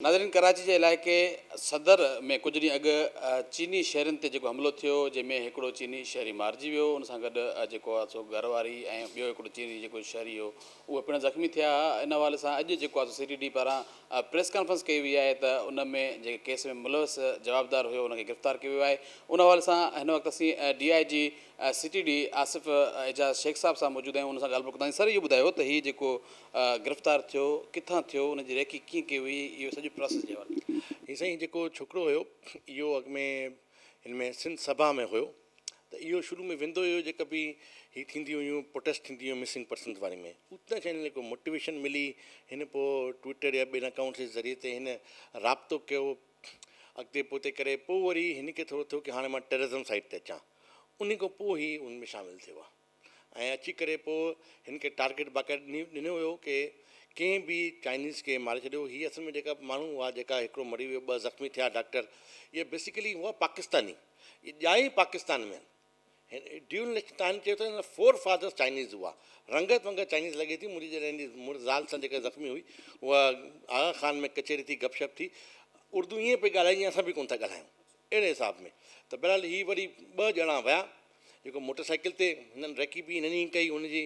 ناظرين ڪراچي جي علائقي صدر ۾ ڪجهه ڏينهن اڳ چيني شهرين تي جيڪو حملو ٿيو جنهن ۾ هڪڙو چيني شهري مارجي ويو ان سان گڏ جيڪو آ سو گهر واري ۽ ٻيو هڪڙو چيني جيڪو شهري هو اهي پڻ زخمي ٿيا ها ان حوالي سان اڄ جيڪو آ سو سي ٽي ڊي پاران پريس ڪانفرنس ڪئي وئي آهي ته ان ۾ جيڪي ڪيس ۾ ملوث جوابدار هيو ان کي گرفتار ڪيو ويو آهي ان حوالي سان هن وقت اسين D I G C T D Asif Ejaz Sheikh sahib سان موجود آهيون ان سان ڳالهه ٻولهه ڪنداسين سر اهو ٻڌايو ته هي جيڪو گرفتار ٿيو ڪٿان ٿيو ان جي ريڪي ڪيئن ڪئي وئي اهو سڄي پراسيس جي حوالي ڪيو. هي سائين جيڪو ڇوڪرو هيو اهو اڳ ۾ هن ۾ سنڌ سڀا ۾ هيو ته اهو شروع ۾ ويندو هيو جيڪا به هي ٿينديون هيون پروٽيسٽ ٿينديون هيون مسنگ پرسنز واري ۾ اتان شايد هن کي ڪو موٽيويشن ملي هن پو ٽوئيٽر يا ٻين اڪائونٽس جي ذريعي تي هن رابطو ڪيو اڳتي پوئتي ڪري پو وري هن کي ٿورو ٿيو ڪي هاڻي مان ٽيررزم سائيڊ تي اچان انهي کان پو هي ان ۾ شامل ٿيو آهي. ۽ اچي ڪري پوء هن کي ٽارگيٽ باقاعده ڏني ڏنو ويو ڪي ڪنهن به چائنيز کي ماري ڇڏيو هي اصل ۾ جيڪا ماڻهو هئا جيڪا هڪڙو مري ويو ٻه زخمي ٿيا ڊاڪٽر اهي بيسيڪلي هئا پاڪستاني اهي ڄائي ئي پاڪستان ۾ آهن هن ڊيول نيشنل تائن چيو ته هن جا فور فادرس چائنيز هئا رنگت ونگت چائنيز لڳي ٿي منهنجي جڏهن جي مڙس زال سان جيڪا زخمي هئي اها آغا خان ۾ ڪچهري ٿي گپ شپ ٿي اردو ائين پئي ڳالهائي جيئن اسان به ڪونه ٿا ڳالهايون اهڙي حساب ۾ ته بهرحال هي وري ٻه ڄڻا ويا جيڪو موٽر سائيڪل تي هنن ريڪي به هنن ئي ڪئي هن جي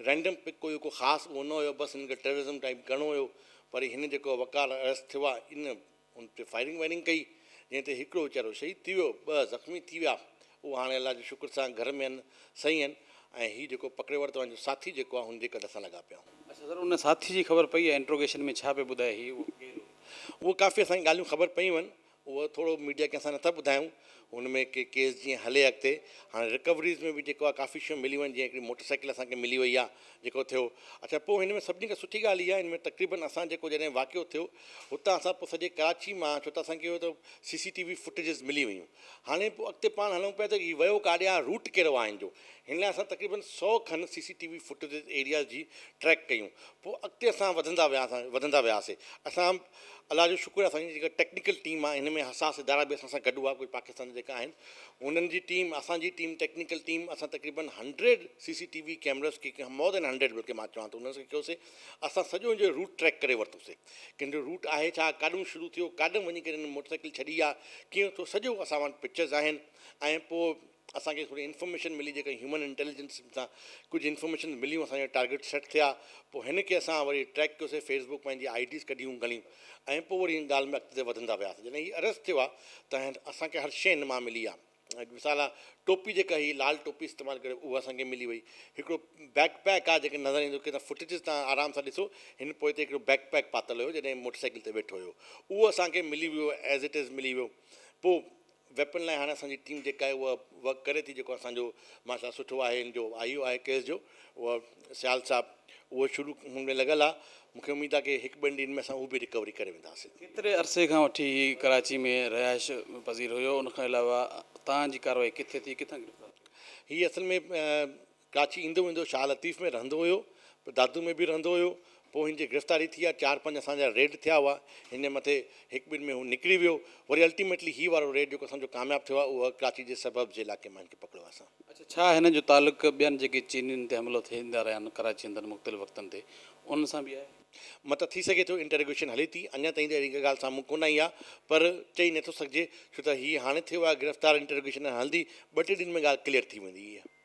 رينڊم پڪ ڪوئي ڪو خاص اهو نه هيو بس هنن کي ٽيررزم ٽائيپ ڪرڻو هيو وري هن جيڪو وقار اريسٽ ٿيو آهي ان ان تي فائرنگ وائرنگ ڪئي جنهن تي هڪڙو ويچارو شهيد ٿي ويو ٻه زخمي ٿي ويا اهو هاڻي الله جي شڪر سان گهر ۾ آهن صحيح آهن ۽ هي جيڪو پڪڙي ورتو آهن جو ساٿي جيڪو آهي هن جي ڪڍ سان لڳا پيا آهن. اڇا سر ان ساٿي جي خبر پئي آهي انٽروگيشن ۾ ڇا پئي ٻڌائي هي اهو ڪير هو؟ اهو ڪافي اسان کي ڳالهيون خبر پيون آهن اهو ٿورو ميڊيا کي اسان نٿا ٻڌايون ان ۾ ڪي ڪيس جيئن هلي اڳتي هاڻي رڪوريز ۾ به جيڪو آهي ڪافي شيون مليون آهن جيئن هڪڙي موٽر سائيڪل اسان کي ملي وئي آهي جيڪو ٿيو اڇا پوء هن ۾ سڀني کان سٺي ڳالهه اها آهي ان ۾ تقريبن اسان جيڪو جڏهن واقعو ٿيو هتان اسان پوء سڄي ڪراچي مان ڇو ته اسان کي اهو ته C C T V footages ملي ويون هاڻي پوء اڳتي پاڻ هلون پيا ته هي ويو ڪاڏي آهي روٽ ڪهڙو آهي هن جو هن لاء اسان تقريبن سؤ کن C C T V footages areas جي ٽريڪ ڪيون پوء اڳتي اسان وڌندا وياسان وڌندا وياسي اسان الله جو شڪر آهي اسان جي جيڪا ٽيڪنيڪل ٽيم آهي ان ۾ حساس ادارا به اسان سان گڏ هئا ڪجهه پاڪستان جا جيڪا آهن انهن جي ٽيم اسان جي ٽيم ٽيڪنيڪل ٽيم اسان تقريبن hundred C C T V cameras کي مور دين هنڊريڊ بلڪه مان چوان ٿو انهن سان ڪيوسي اسان سڄو ان جو روٽ ٽريڪ ڪري ورتوسي ڪي ان جو روٽ آهي ڇا ڪاڏون شروع ٿيو ڪاڏم وڃي ڪري ان موٽر سائيڪل ڇڏي آ ڪيئن ٿو سڄو اسان وٽ پڪچرز آهن ۽ پوء اسان کي ٿوري انفارميشن ملي جيڪا هيومن انٽيليجنس سان ڪجهه انفارميشن مليون اسان جا ٽارگيٽ سيٽ ٿيا پوء هن کي اسان وري ٽريڪ ڪيوسي فيس بڪ پنهنجي آئي ڊيز ڪڍيون گهڻيون ۽ پوء وري هن ڳالهه ۾ اڳتي وڌندا وياسي جڏهن هي اريسٽ ٿيو آهي ته اسان کي هر شي هن مان ملي آهي مثال آهي ٽوپي جيڪا هي لال ٽوپي استعمال ڪري اها اسان کي ملي وئي هڪڙو بيڪ پيڪ آهي جيڪي نظر ايندو ڪيترا فوٽيجز تان آرام سان ڏسو هن پوئتي هڪڙو بيڪ پيڪ پاتل هيو جڏهن موٽر سائيڪل تي ويٺو هيو اهو اسان کي ملي ويو ايز اٽ ايز ملي ويو پوء ويپن لاء هاڻي اسان جي ٽيم جيڪا آهي اها ورڪ ڪري ٿي جيڪو اسان جو ماشاءالله سٺو آهي ان جو آئي او آهي ڪيس جو اها سيال صاحب اهو شروع هن ۾ لڳل آهي مون کي اميد آهي ڪي هڪ ٻن ڏينهن ۾ اسان اهو به رڪوري ڪري وينداسين. ڪيتري عرصي کان وٺي هي ڪراچي ۾ رهائش پذير هيو ان کان علاوه تان جي ڪارروائي ڪٿي ٿي ڪٿان گرفتار ٿيو؟ هي اصل ۾ ڪراچي ايندو ويندو شاهه لطيف ۾ رهندو هيو پوء دادو ۾ به رهندو هيو پوء هن جي گرفتاري ٿي آ چار پنج اسان جا ريڊ ٿيا هئا هن جي مٿي هڪ ٻن ۾ هو نڪري ويو وري الٽيميٽلي هي وارو ريڊ جيڪو اسان جو ڪامياب ٿيو آ اهو ڪراچي جي سبربز جي علائقي مان هن کي پڪڙيو آ اسان. اڇا ڇا هن جو تعلق ٻين جيڪي چينين تي حملو ٿيندا رهيا آهن ڪراچي اندر مختلف وقتن تي انهن سان به آهي؟ مطلب ٿي سگهي ٿو انٽروگيشن هلي ٿي اڃا تائين ته اهڙي ڪا ڳالهه سامهون ڪونه آئي آ پر چئي نٿو سگهجي ڇو ته هي هاڻي ٿيو آ گرفتار انٽروگيشن هلندي ٻه ٽي ڏينهن ۾ ڳالهه ڪليئر ٿي ويندي هيء.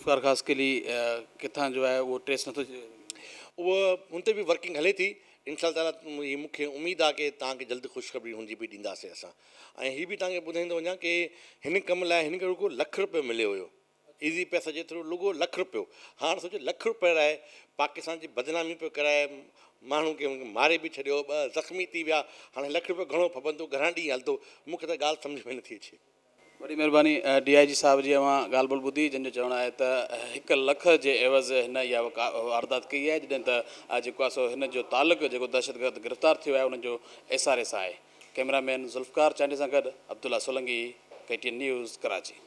ذوالفقار خاص قلي ڪٿان جو آهي اهو ٽريس نٿو ٿي سگهي اهو هن تي به ورڪنگ هلي ٿي ان شاء الله تعاليٰ هي مونکي اميد آهي ڪي توهان کي جلد خوشخبري هن جي به ڏينداسي اسان ۽ هي به توهان کي ٻڌائيندو وڃان ڪي هن ڪم لاء هن کي رڳو لک روپيو مليو هيو ايزي پئسا جي ٿرو لڳو لک روپيو هاڻ سوچو لک روپيو لاء پاڪستان جي بدنامي پيو ڪرائي ماڻهو کي ماري به ڇڏيو ٻه زخمي ٿي ويا هاڻي لک روپيو گهڻو ڦٻندو گهڻا ڏينهن هلندو مونکي ته ڳالهه سمجهه ۾ نٿي اچي وڏي مھرباني ڊي آء جي صاحب جي اوھان ڳالھ ٻولھ ٻڌي جنھن جو چوڻ آھي ته ھڪ لک جي عيوض ھن اھا واردات ڪئي آھي جڏھن ته اھا جيڪو آھي سو ھن جو تعلق جيڪو دھشتگرد گرفتار ٿيو آھي انھن جو ايس آر اي سان آھي ڪئميرا مين ذوالفقار چانڊيي سان گڏ Abdullah Solangi K T N news Karachi.